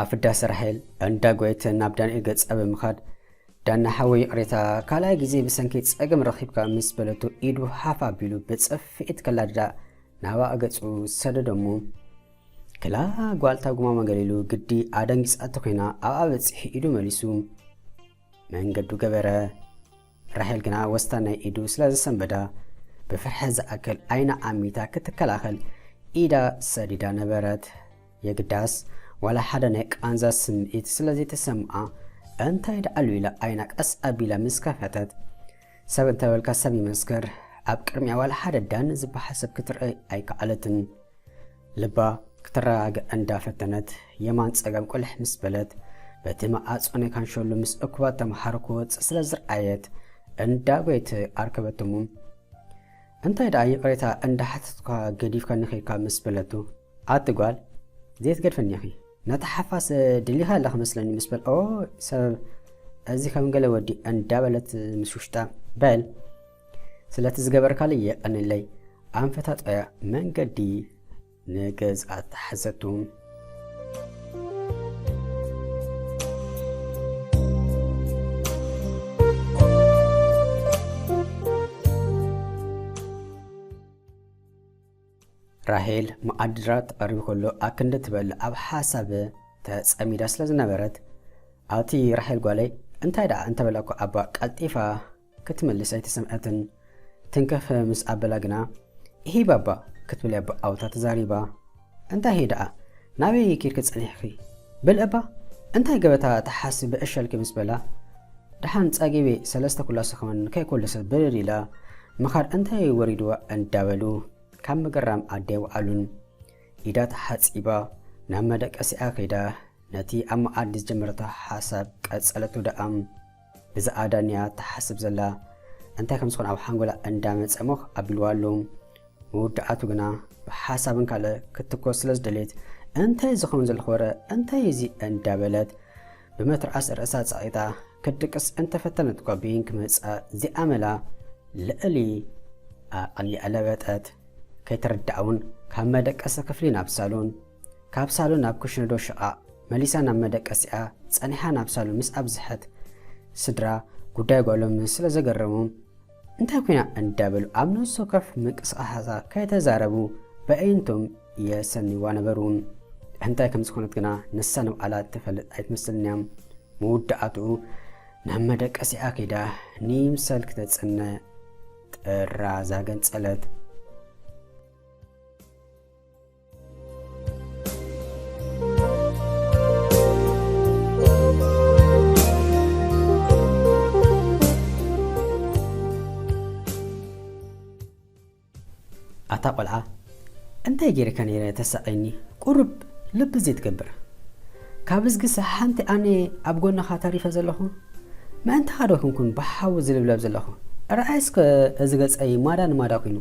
ኣብ ፍዳሰ ራሄል እንዳ ጎየተ ናብ ዳንኤል ገጻ ብምኻድ ዳና ሓወይ ይቕሬታ ካልኣይ ግዜ ብሰንኪ ጸገም ረኺብካ ምስ በለቶ ኢዱ ሃፍ ኣቢሉ ብጽፍዒት ከላድዳ ናባኣ ገጹ ሰደደሞ ክላ ጓልታ ጉማማ ገሊሉ ግዲ ኣደንጊጻቶ ኮይና ኣብኣ በጺሑ ኢዱ መሊሱ መንገዱ ገበረ። ራሄል ግና ወስታ ናይ ኢዱ ስለ ዘሰንበዳ ብፍርሒ ዝኣክል ዓይና ኣሚታ ክትከላኸል ኢዳ ሰዲዳ ነበረት። የግዳስ ዋላ ሓደ ናይ ቃንዛ ስምዒት ስለ ዘይተሰምኣ እንታይ ድኣሉ ኢላ ዓይና ቀስ ኣቢላ ምስ ከፈተት ሰብ እንተበልካ ሰብ ይመስክር ኣብ ቅድሚኣ ዋላ ሓደ ዳኒ ዝበሃል ሰብ ክትርእይ ኣይከኣለትን። ልባ ክትረጋግእ እንዳ ፈተነት የማን ጸገብ ቁልሕ ምስ በለት በቲ መኣጾ ናይ ካንሸሎ ምስ እኩባት ተመሃሮ ክወጽእ ስለ ዝርኣየት እንዳ ጎየት ኣርከበቶ እሞ እንታይ ደኣ ይቕሬታ እንዳ ሓተትኩካ ገዲፍካኒ ኬድካ ምስ በለቱ ኣቲ ጓል ዘይትገድፈኒ ኢኺ ነታ ሓፋስ ድሊኻ ኣለኺ መስለኒ ምስ በል ኦ ሰብ እዚ ከም ገለ ወዲ እንዳ በለት ምስ ውሽጣ በል ስለቲ ዝገበርካለይ የቀንለይ ኣንፈታጠያ መንገዲ ንገዝኣ ተሓዘቱ። ራሄል መኣድራ ተቐሪቡ ከሎ ኣክንዲ ትበል ኣብ ሓሳብ ተጸሚዳ ስለ ዝነበረት ኣብቲ ራሄል ጓለይ እንታይ ደኣ እንተበላኩ ኣባ ቀልጢፋ ክትምልስ ኣይተሰምዐትን። ትንከፍ ምስ ኣበላ ግና፣ እሂ ባባ! ክትብል እያ ብኣውታ ተዛሪባ። እንታይ እሂ ደኣ? ናበይ ኬድኪ ጸኒሕኪ? በሊ እባ እንታይ ገበታ ትሓስቢ ብዕሸልኪ ምስ በላ፣ ደሓን ጸጊበ ሰለስተ ኩላሶ ከማን ከይኮለሰት ብርር ኢላ ምኻድ እንታይ ወሪድዋ እንዳበሉ ካብ ምግራም ኣደይ ወዓሉን። ኢዳ ተሓጺባ ናብ መደቀሲኣ ከይዳ ነቲ ኣብ መኣዲ ዝጀመረቶ ሓሳብ ቀጸለቶ ደኣ። እዛ ኣዳን እያ ትሓስብ ዘላ እንታይ ከም ዝኾነ ኣብ ሓንጎላ እንዳመጸ ሞኽ ኣቢልዋ ኣሎ መወዳኣቱ ግና ብሓሳብን ካልእ ክትኮስ ስለ ዝደልየት እንታይ ዝኸውን ዘለኹ ወረ እንታይ እዚ እንዳበለት ብመትርዓስ ርእሳ ጸቒጣ ክትድቅስ እንተፈተነት ጓቢን ክመጻ ዚኣመላ ልዕሊ ኣቐሊኣ ለበጠት ከይተረዳኣ እውን ካብ መደቀሲ ክፍሊ ናብ ሳሎን ካብ ሳሎን ናብ ኩሽነዶ ሽቓቕ መሊሳ ናብ መደቀሲኣ ጸኒሓ ናብ ሳሎን ምስ ኣብዝሐት ስድራ ጉዳይ ጓሎም ስለ ዘገረሞም እንታይ ኮይና እንዳበሉ ኣብ ነፍሲ ወከፍ ምንቅስቓሳታ ከይተዛረቡ በእይንቶም የሰንይዋ ነበሩ። እንታይ ከም ዝኾነት ግና ንሳ ንባዕላ እትፈልጥ ኣይትመስልን እያ። መወዳእትኡ ናብ መደቀሲኣ ከይዳ ንይምሰል ክተጽነ ጥራዛ ገንጸለት። ኣታ ቆልዓ እንታይ ጌርካ ነይረ ተሳቐየኒ ቁሩብ ልቢ ዘይትገብር ካብዝግሰ ሓንቲ ኣነ ኣብ ጎንኻ ተሪፈ ዘለኹ ምእንታኻ ዶ ኩንኩን ብሓዊ ዝልብለብ ዘለኹ ርኣይ እስከ እዚ ገጸይ ማዳ ንማዳ ኩይኑ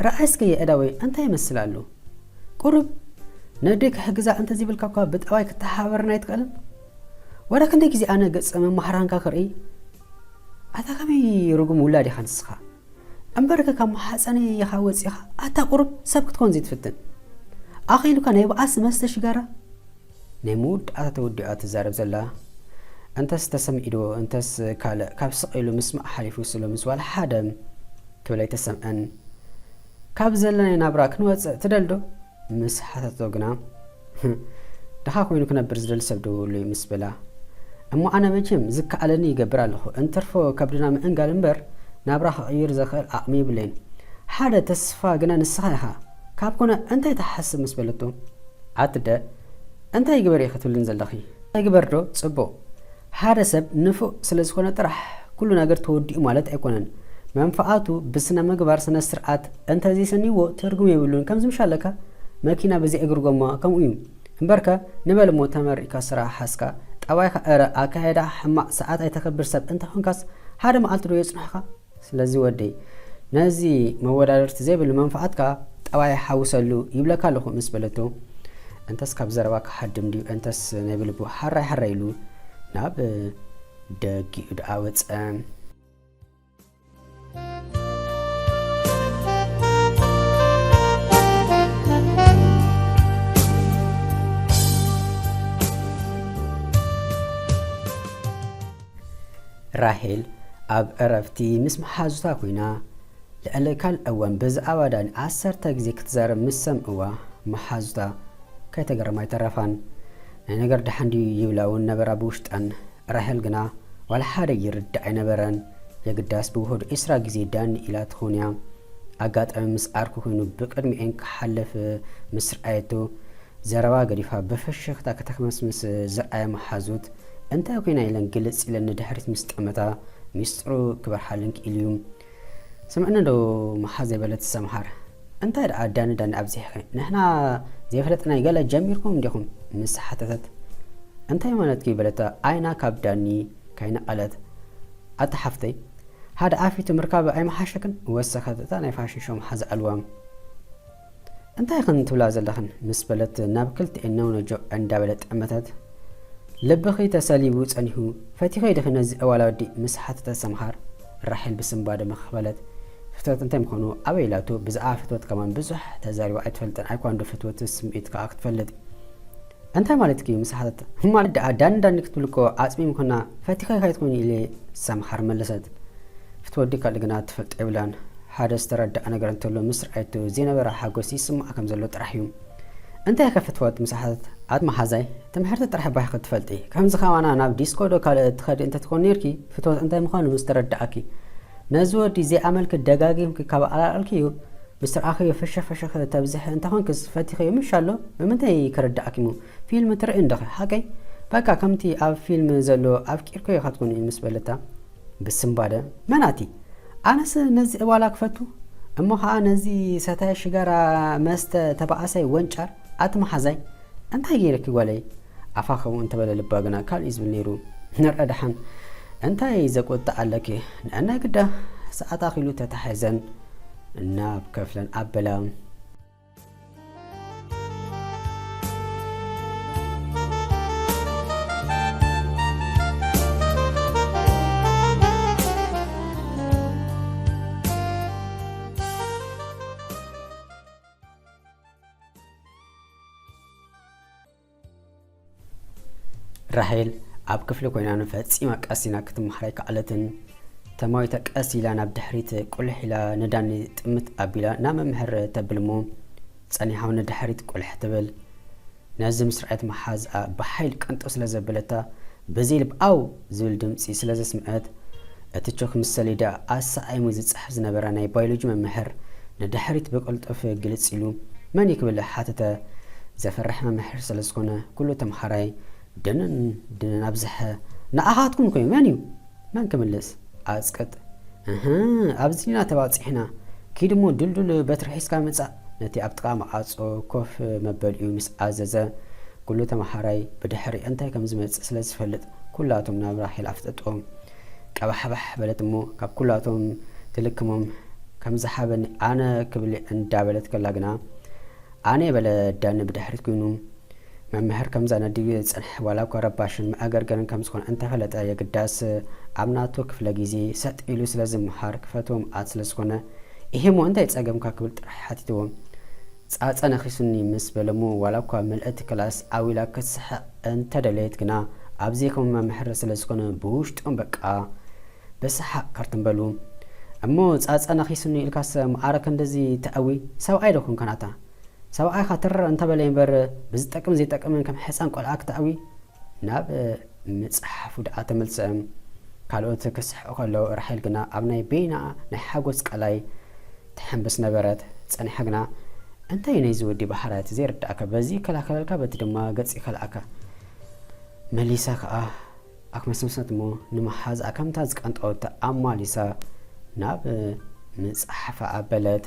ርኣይ እስከ የእዳወይ እንታይ ይመስል ኣሉ ቁሩብ ነደይ ክሕግዛ እንተዘይብልካ እኳ ብጠባይ ክተሓባበረኒ ኣይትክእልን ወረ ክንደይ ግዜ ኣነ ገጽ መማህራንካ ክርእይ ኣታ ከመይ ርጉም ውላድ ኢኻ ንስኻ እምበርከ ካብ ማሕጸነይ ኢኻ ወጺኻ ኣታ ቁሩብ ሰብ ክትኮን ዘይትፍትን ኣኺሉካ ናይ ባኣሲ መስተ ሽጋራ። ናይ መወዳእታ ተወዲዑ እያ ትዛረብ ዘላ እንተስ ተሰሚዕዶ እንተስ ካልእ ካብ ስቅ ኢሉ ምስማዕ ሓሊፉስ ሎምስ ዋላ ሓደ ክብል ኣይተሰምዐን ካብ ዘለና ናይ ናብራ ክንወጽእ ትደልዶ? ምስ ሓተተቶ ግና፣ ድኻ ኮይኑ ክነብር ዝደሊ ሰብ ዶ እህሉ እዩ? ምስ በላ፣ እሞ ኣነ መቸም ዝከኣለኒ ይገብር ኣለኹ፣ እንትርፎ ከብድና ምእንጋድ እምበር ናብራ ክቕይር ዘኽእል ዓቕሚ የብለይን። ሓደ ተስፋ ግና ንስኻ ኢኻ፣ ካብ ኮነ እንታይ ትሓስብ? ምስ በለቶ፣ ኣትደ እንታይ ግበሪ ኢኺ ትብልኒ ዘለኺ? ኣይግበር ዶ ጽቡቕ? ሓደ ሰብ ንፉዕ ስለ ዝኾነ ጥራሕ ኩሉ ነገር ተወዲኡ ማለት ኣይኮነን። መንፍዓቱ ብስነ ምግባር ስነ ስርዓት እንተ ዘይሰንይዎ ትርጉም የብሉን ከምዚ ምሽ ኣለካ መኪና ብዘይ እግሪ ጎማ ከምኡ እዩ እምበርከ ንበል እሞ ተመሪቅካ ስራሕ ሓዝካ ጠባይካ እረ ኣካያይዳ ሕማቅ ሰዓት ኣይተክብር ሰብ እንተ ኮንካስ ሓደ መዓልቲ ዶ የጽንሑካ ስለዚ ወደይ ነዚ መወዳድርቲ ዘይብሉ መንፍዓትካ ጠባይ ሓውሰሉ ይብለካ ኣለኹ ምስ በለቶ እንተስ ካብ ዘረባ ክሃድም ድዩ እንተስ ናይ ብልቡ ሓራይ ሓራይ ኢሉ ናብ ደጊኡ ደኣ ወጸ። ራሄል ኣብ ዕረፍቲ ምስ መሓዙታ ኰይና፣ ልዕሊ ካልእ እዋን ብዛዕባ ዳኒ ዓሰርተ ግዜ ክትዛረብ ምስ ሰምዕዋ፣ መሓዙታ ከይተገረማ ኣይተረፋን። ናይ ነገር ደሓን ድዩ ይብላ'ውን ነበራ ብውሽጠን። ራሄል ግና ዋላ ሓደ ይርዳእ ኣይነበረን። የግዳስ ብውሑዱ ዕስራ ግዜ ዳኒ ኢላ ትዀን'ያ። ኣጋጣሚ ምስ ዓርኩ ኰይኑ ብቅድሚኤን ክሓልፍ ምስ ረኣየቶ፣ ዘረባ ገዲፋ ብፍሽኽታ ከተክመስምስ ዝርኣያ መሓዙት እንታይ ኮይና ኢለን ግልጽ ኢለን ንድሕሪት ምስ ጠመታ ሚስጥሩ ክበርሃለን ክኢሉ'ዩ። ስምዕኒ ዶ መሓዘይ በለት ሰምሃር። እንታይ ደኣ ዳኒ ዳኒ ኣብዚሕኺ ንሕና ዘይፈለጥናይ ገለ ጀሚርኩም እንዲኹም ምስ ሓተተት። እንታይ ማለትኪ በለታ ዓይና ካብ ዳኒ ከይነቐለት። ኣታ ሓፍተይ ሓደ ዓፊቱ ምርካብ ኣይምሓሸክን ወሰኸት እታ ናይ ፋሽን ሾው መሓዛ ዕልዋ። እንታይ ኢኽን ትብላ ዘለኽን ምስ በለት ናብ ክልቲኤን ነውነጆ እንዳበለ ጠመተት ልብኺ ተሰሊቡ ጸኒሑ ፈቲኺ ዲኺ ነዚ እዋላ ወዲ ምስ ሓተተ ሰምሃር ራሄል ብስንባደ መኽኽ በለት ፍትወት እንታይ ምዃኑ ኣበይ ኢላቶ ብዛዕባ ፍትወት ከማን ብዙሕ ተዛሪባ ኣይትፈልጥን ኣይኳንዶ ፍትወትስ ስምዒት ከኣ ክትፈልጥ እንታይ ማለትኪ ምስ ሓተተ ማለት ደኣ ዳኒ ዳኒ ክትብሊ እኮ ዓጽሚ ምኮና ፈቲካ ኢካ ኣይትኮይኒ ኢለ ሰምሃር መለሰት ክትወዲ ካልእ ግና ትፈልጦ የብላን ሓደ ዝተረደኣ ነገር እንተሎ ምስ ረኣየቶ ዘይነበራ ሓጎስ ይስምዓ ከም ዘሎ ጥራሕ እዩ እንታይ ከ ፍትወት ምስ ሓተተ ኣቲ መሓዛይ ትምሕርቲ ጥራሕ ባይኪ ትፈልጢ ከምዚ ከማና ናብ ዲስኮ ዶ ካልእ ትከዲ እንተ ትኮኒ ኔርኪ ፍትወት እንታይ ምኳኑ ምስ ተረደኣኪ ነዚ ወዲ ዘይኣመልኪ ደጋጊምኪ ካብ ኣላልኣልክዩ ምስትር ኣኺዮ ፍሽኽ ፍሽኽ ተብዝሒ እንተኾንክስ ፈቲኺዮ ምሽ ኣሎ ብምንታይ ክርድኣኪሞ ፊልም ትርእይ እንዶኺ ሓቀይ በቃ ከምቲ ኣብ ፊልም ዘሎ ኣፍቂርክዮ ከትኮኒ ምስ በለታ ብስንባደ መን ኣቲ ኣነስ ነዚ ዕባላ ክፈቱ እሞ ኸኣ ነዚ ሰታይ ሽጋራ መስተ ተባኣሳይ ወንጫር ኣቲ መሓዛይ እንታይ ጌረኪ ጓለይ ኣፋ ከምኡ እንተበለ ልባ ግና ካልእ እዩ ዝብል ነይሩ። ንርዐ ደሓን እንታይ ዘቁጥዕ ኣለኪ ንዐናይ ግዳ ሰዓት ኣኺሉ ተታሒዘን ናብ ከፍለን ኣበላ። ራሄል ኣብ ክፍሊ ኮይና ንፈጺማ ቀሲና ክትመሓር ኣይከኣለትን። ተማዊታ ቀስ ኢላ ናብ ድሕሪት ቁልሕ ኢላ ንዳኒ ጥምት ኣቢላ ናብ መምህር ተብል እሞ ጸኒሓው ንድሕሪት ቁልሕ ትብል። ነዚ ምስ ረኣየት መሓዝኣ ብሓይል ቀንጠው ስለ ዘበለታ በዘይ ልብ ኣው ዝብል ድምጺ ስለ ዘስምዐት፣ እቲ ቾክ ምስ ሰሌዳ ኣሰዓዒሙ ዝጽሕፍ ዝነበረ ናይ ባዮሎጂ መምህር ንድሕሪት ብቕልጡፍ ግልጽ ኢሉ፣ መን'ዩ ክብል ሓተተ። ዘፍርሕ መምህር ስለ ዝዀነ ኵሉ ተምሃራይ ድንን ድንን ኣብዝሐ። ንዓኻትኩም ከ መን'ዩ? መን ክምልስ? ኣጽቅጥ። እህ! ኣብዚ ዲና ተባጺሕና? ኪድ'ሞ ድልዱል በትሪ ሒዝካ ምጻእ። ነቲ ኣብ ጥቓ መዓጾ ኮፍ መበሊኡ ምስ ኣዘዘ፣ ኩሉ ተመሃራይ ብድሕሪኣ እንታይ ከም ዝመጽእ ስለ ዝፈልጥ ኩላቶም ናብ ራሄል ኣፍጠጥዎም። ቀባሕባሕ በለት እሞ ካብ ኩላቶም ትልክሞም ከም ዝሓበኒ ኣነ ክብሊ እንዳበለት ከላ ግና ኣነ በለ ዳኒ ብድሕሪት ኩይኑ። መምህር ከም ዘነድዩ ዝጸንሐ ዋላ እኳ ረባሽን መኣገርገርን ከም ዝኾነ እንተ ፈለጠ የግዳስ ኣብ ናቱ ክፍለ ግዜ ሰጥ ኢሉ ስለ ዝመሃር ክፈትዎ ምኣት ስለ ዝኾነ ኢሂ'ሞ እንታይ ጸገምካ ክብል ጥራሕ ሓቲትዎ ጻጸ ነኺሱኒ ምስ በለ'ሞ ዋላ እኳ ምልእቲ ክላስ ዓው ኢላ ክትስሕቕ እንተ ደለየት ግና ኣብ ዘይከሙ መምህር ስለ ዝኾነ ብውሽጦም በቃ ብሰሓቕ ከርትም በሉ እሞ ጻጸ ነኺሱኒ ኢልካሰ ምኣረ ክንድዚ ተእዊ ሰብኣይ ዶ ኮንካ ናታ ሰብኣይካ ትርር እንተበለ እምበር ብዝጠቅምን ዘይጠቅምን ከም ሕጻን ቆልዓ ክተእዊ። ናብ ምጽሓፉ ደኣ ተመልሰ'ም ካልኦት ክስሕቁ ከለዉ ራሄል ግና ኣብ ናይ በይና ናይ ሓጎስ ቀላይ ትሕንብስ ነበረት። ጸኒሓ ግና እንታይ እዩ ናይዚ ወዲ ባህርያት ዘይርድኣካ በዚ ይከላከለልካ በቲ ድማ ገጽ ይከልኣካ መሊሳ ከኣ ኣክመስመሰት እሞ ንመሓዝኣ ከምታ ዝቀንጠወቶ ኣማሊሳ ናብ ምጽሓፋ ኣበለት።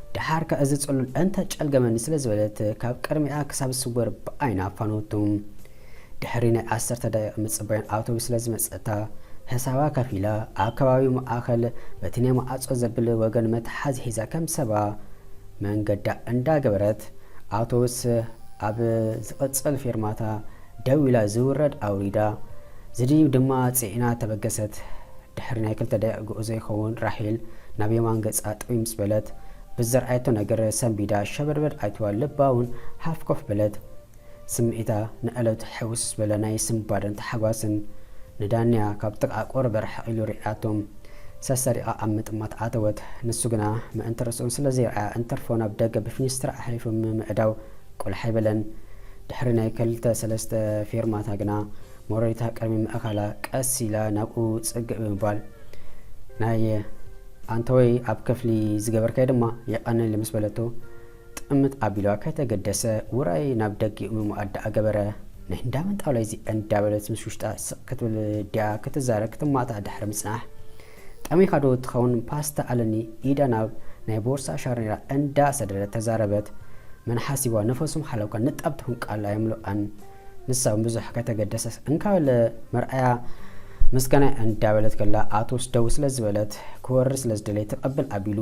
ደሓር ከ እዚ ጽሉል እንተ ጨልገመኒ ስለ ዝበለት ካብ ቅድሚኣ ክሳብ ዝስወር ብኣይና ኣፋነወቶ። ድሕሪ ናይ ዓሰርተ ደቂቅ ምጽባይን ኣውቶቡስ ስለ ዝመጸታ ሕሳባ ከፊላ ኣብ ከባቢ ማእከል በቲ ናይ መዓጾ ዘብል ወገን መትሓዚ ሒዛ ከም ሰባ መንገዳ እንዳ ገበረት ኣውቶቡስ ኣብ ዝቅጽል ፌርማታ ደው ኢላ ዝውረድ ኣውሪዳ ዝድይብ ድማ ጽዒና ተበገሰት። ድሕሪ ናይ ክልተ ደቂቕ ጉዕዞ ይኸውን ራሄል ናብ የማን ገጻ ጥውይ ምስ በለት ብዝረኣየቶ ነገር ሰንቢዳ ሸበድበድ ኣኢትዋ ልባውን ሃፍ ኮፍ በለት። ስምዒታ ንዕለቱ ሕውስ ዝበለ ናይ ስንባደን ታሕጓስን ንዳንያ ካብ ጥቕኣ ቁሩብ ርሕቕ ኢሉ ርኢኣቶ ሰሰሪቓ ኣብ ምጥማት ኣተወት። ንሱ ግና ምእንቲ ርእሱ ስለ ዘይረኣያ እንትርፎ ናብ ደገ ብፊኒስትራ ኣሕሊፉ ምምዕዳው ቆላሕ ኣይበለን። ድሕሪ ናይ ከልተ ሰለስተ ፌርማታ ግና ሞረሪታ ቅድሚ ምእካላ ቀስ ኢላ ናብኡ ጽግዕ ብምባል ናይ ኣንተወይ ኣብ ክፍሊ ዝገበርካዮ ድማ የቀንየለይ ምስ በለቶ ጥምት ኣቢልዋ ከይተገደሰ ውራይ ናብ ደጊኡ ምሙኣት ደኣ ገበረ። ናይ እንዳ መን ጣውላ'ዩ እዚ እንዳበለት ምስ ውሽጣ ስቅ ክትብል ድያ ክትዛረብ ክትማታዕ ድሕሪ ምጽናሕ ጠሚኻ ዶ ትኸውን ፓስታ ኣለኒ ኢዳ ናብ ናይ ቦርሳ ሻርኔራ እንዳ ሰደደት ተዛረበት መን ሓሲብዋ ነፈሱም ሓለውካ ንጣብ ትኹን ቃል ኣይምሉኣን ንሳ ውን ብዙሕ ከይተገደሰት እንካ በለ መርኣያ ምስጋናይ እንዳ በለት ከላ ኣቶስ ደው ስለ ዝበለት ክወርድ ስለ ዝደለየ ተቐብል ኣቢሉ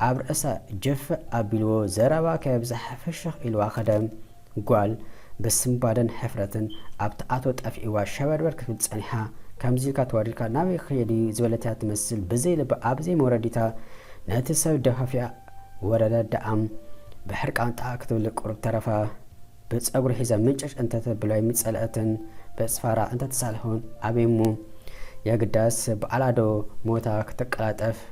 ኣብ ርእሳ ጀፍ ኣቢልዎ ዘረባ ከየብዛሐ ፍሽኽ ኢልዋ ከደ ጓል ብስንባደን ሕፍረትን ኣብቲ ኣቶ ጠፊእዋ ሸበርበር ክትብል ጸኒሓ፣ ከምዚ ኢልካ ተዋሪድካ ናበይ ክኸይድ እዩ ዝበለት'ያ ትመስል ብዘይ ልባ ኣብ ዘይ መውረዲታ ነቲ ሰብ ደፋፊኣ ወረደት ደኣም ብሕርቃን ጣእ ክትብል ቁሩብ ተረፋ ብጸጉሪ ሒዛ ምንጭጭ እንተተብሎ ኣይምጸልኣትን በጽፋራ እንተተሳልኹን ኣበይ'ሞ የግዳስ ባዕላ ዶ ሞታ ክትቀላጠፍ